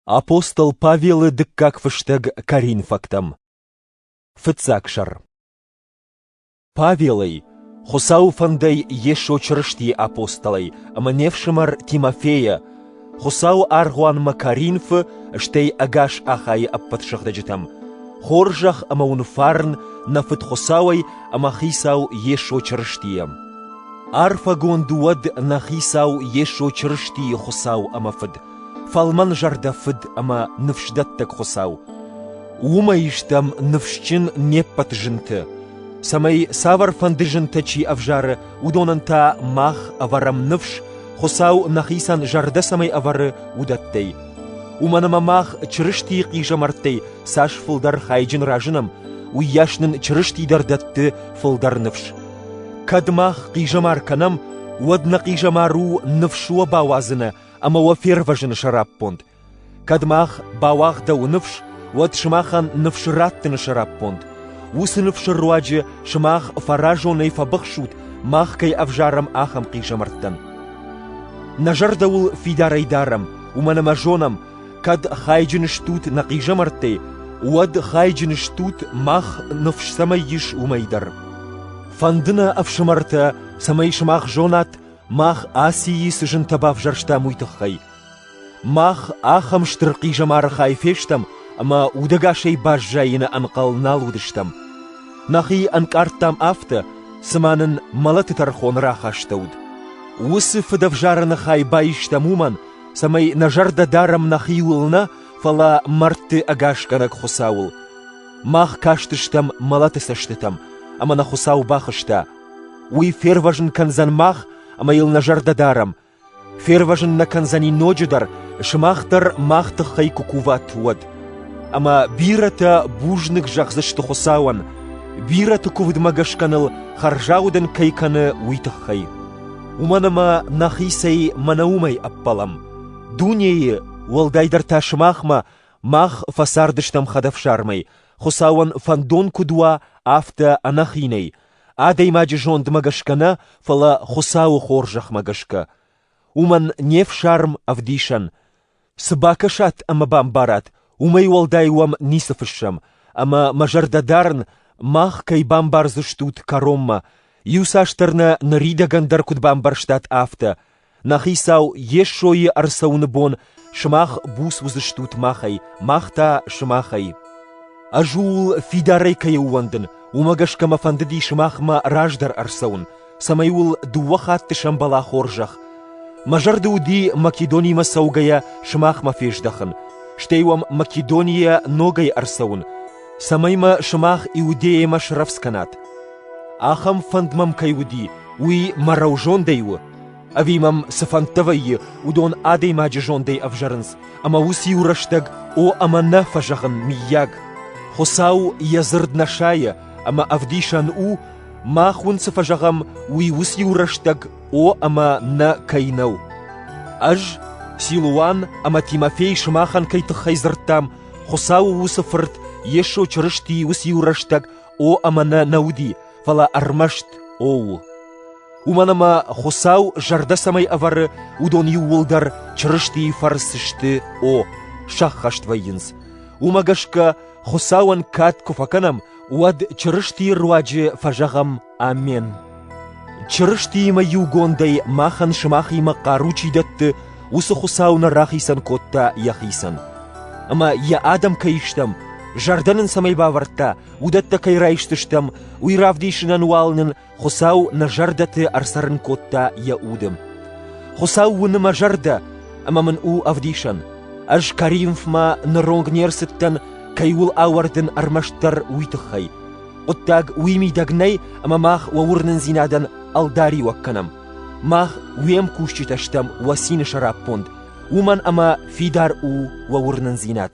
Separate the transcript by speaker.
Speaker 1: Апостол Павелы дыккаг фыстӕг коринфӕгтӕм Фыццаг сӕр Павелӕй, Хуыцауы фӕндӕй Йесо Чырыстийы апостолӕй ӕмӕ не фсымӕр Тимофейӕ, Хуыцауы аргъуанмӕ Коринфы, стӕй ӕгас Ахайы ӕппӕт сыгъдӕджытӕм, хорзӕх ӕмӕ уын фарн нӕ Фыд Хуыцауӕй ӕмӕ Хицау Йесо Чырыстийӕ. Арфӕгонд уӕд нӕ Хицау Йесо Чырыстийы Хуыцау ӕмӕ Фыд, Фӕлмӕн зӕрдӕ фыд ӕмӕ ныфсдӕттӕг Хуыцау. Уымӕй стӕм ныфсджын не ппӕт зынты, цӕмӕй цавӕрфӕнды зынтӕ чи ӕвзары, уыдонӕн та мах ӕвӕрӕм ныфс, Хуыцау нӕхицӕн зӕрдӕ цӕмӕй ӕвӕры, уыдӕттӕй. Уымӕн ӕмӕ мах Чырыстийы хъизӕмӕрттӕй цас фылдӕр хайджын разынӕм, уыйас нын Чырысти дӕр дӕтты фылдӕр ныфс. Кӕд мах хъизӕмар кӕнӕм, уӕд нӕ хъизӕмар у ныфс уӕ бауадзыны ӕмӕ уӕ фервӕзыны сӕраппонд. Кӕд мах бауагъдӕуы ныфс, уӕд сымахӕн ныфс раттыны сӕраппонд. Уыцы ныфсы руаджы сымах фӕразонӕй фӕбыхсут, мах кӕй ӕвзарӕм ахӕм хъизӕмӕрттӕн. Нӕ зӕрдӕуыл фидарӕй дарӕм, уымӕн ӕмӕ зонӕм, кӕд хайджын стут нӕ хъизӕмӕрттӕй, уӕд хайджын стут мах ныфс цӕмӕй ис, уымӕй дӕр. Фӕнды нӕ ӕфсымӕртӕ, цӕмӕй сымах зонат, Мах Асийы цы зынтӕ бавзӕрстам, уый тыххӕй. Мах ахӕм стыр хъизӕмары хай фестӕм, ӕмӕ удӕгасӕй баззайыны ӕнхъӕл нал уыдыстӕм. Нӕхи ӕнкъардтам афтӕ, цыма нын мӕлӕты тӕрхон рахастӕуыд. Уыцы фыдӕвзарӕны хай баистӕм уымӕн, цӕмӕй нӕ зӕрдӕ дарӕм нӕхиуыл нӕ, фӕлӕ мӕрдты ӕгасгӕнӕг Хуыцауыл. Мах кастыстӕм мӕлӕты цӕстытӕм, ӕмӕ нӕ Хуыцау бахызта, Уый фервӕзын кӕндзӕн мах ӕмӕ йыл нӕ зӕрдӕ дарӕм. Фервӕзын нӕ кӕндзӕни ноджыдӕр, сымах дӕр мах тыххӕй куы куват, уӕд. Ӕмӕ бирӕтӕ бузныг зӕгъдзысты Хуыцауӕн, бирӕты куывдмӕ гӕсгӕ ныл хӕрзаудӕн кӕй кӕны, уый тыххӕй. Уымӕн ӕмӕ нӕхицӕй мӕнӕ уымӕй ӕппӕлӕм. Дунейы, уӕлдайдӕр та сымахмӕ, мах фӕцардыстӕм хӕдӕфсармӕй, Хуыцауӕн фӕндон куыд уа, афтӕ ӕнӕхинӕй, Адӕймаджы зондмӕ гӕсгӕ нӕ, фӕлӕ Хуыцауы хорзӕхмӕ гӕсгӕ. Уымӕн не фсарм ӕвдисӕн, цы бакӕсат ӕмӕ бамбарат, уымӕй уӕлдай уӕм ницы фыссӕм, ӕмӕ мӕ зӕрдӕ дарын, мах кӕй бамбардзыстут кӕронмӕ, иуцасдӕр нӕ ныридӕгӕн дӕр куыд бамбӕрстат, афтӕ, Нӕ хицау Йесойы ӕрцӕуыны бон сымах буц уыдзыстут махӕй, мах та сымахӕй. Ӕз ууыл фидарӕй кӕй ӕууӕндын, уымӕ гӕсгӕ мӕ фӕндыди сымахмӕ раздӕр ӕрцӕуын, цӕмӕй уыл дыууӕ хатты сӕмбӕла хорзӕх. Мӕ зӕрды уыди Македонимӕ цӕугӕйӕ сымахмӕ фездӕхын, стӕй уӕм Македонийӕ ногӕй ӕрцӕуын, цӕмӕй мӕ сымах Иудейӕмӕ срӕвдз кӕнат. Ахӕм фӕнд мӕм кӕй уыди, уый мӕ рӕузондӕй у, Ӕви мӕм цы фӕндтӕ вӕййы, уыдон адӕймаджы зондӕй ӕвзӕрынц, ӕмӕ уыциу рӕстӕг о ӕмӕ нӕ фӕзӕгъын, мыййаг, Хуыцау йӕ дзырд нӕ сайы ӕмӕ ӕвдисӕн у, мах уын цы фӕзӕгъӕм, уый уыциу рӕстӕг о ӕмӕ нӕ кӕй нӕу. Ӕз, Силуан ӕмӕ Тимофей сымахӕн кӕй тыххӕй дзырдтам, Хуыцауы уыцы Фырт Йесо Чырыстийы уыциу рӕстӕг О ӕмӕ нӕ нӕ уыди, фӕлӕ ӕрмӕст о у. Уымӕн ӕмӕ Хуыцау зӕрдӕ цӕмӕй ӕвӕры, уыдон иууылдӕр Чырыстийы фӕрцы сты о, сӕххӕст вӕййынц. Уымӕ гӕсгӕ Хуыцауӕн кад куы фӕкӕнӕм, уӕд Чырыстийы руаджы фӕзӕгъӕм Амен. Чырыстиимӕ иугондӕй махӕн сымахимӕ хъару чи дӕтты, уыцы Хуыцау нӕ рахицӕн кодта йӕхицӕн. Ӕмӕ йӕ адӕм кӕй стӕм, зӕрдӕ нын цӕмӕй бавӕрдта, уыдӕттӕ кӕй райстыстӕм, уый равдисынӕн уал нын Хуыцау нӕ зӕрдӕты ӕрцӕрын кодта йӕ уды. Хуыцау уыны мӕ зӕрдӕ, ӕмӕ мын у ӕвдисӕн. Ӕз Коринфмӕ ныронг не рцыдтӕн, кӕй уыл ауӕрдын ӕрмӕстдӕр уый тыххӕй. Хъуыддаг уый мидӕг нӕй, ӕмӕ мах уӕ уырнындзинадӕн ӕлдариуӕг кӕнӕм. Мах уе мкусджытӕ стӕм уӕ цины сӕраппонд, уымӕн ӕмӕ фидар у уӕ уырнындзинад.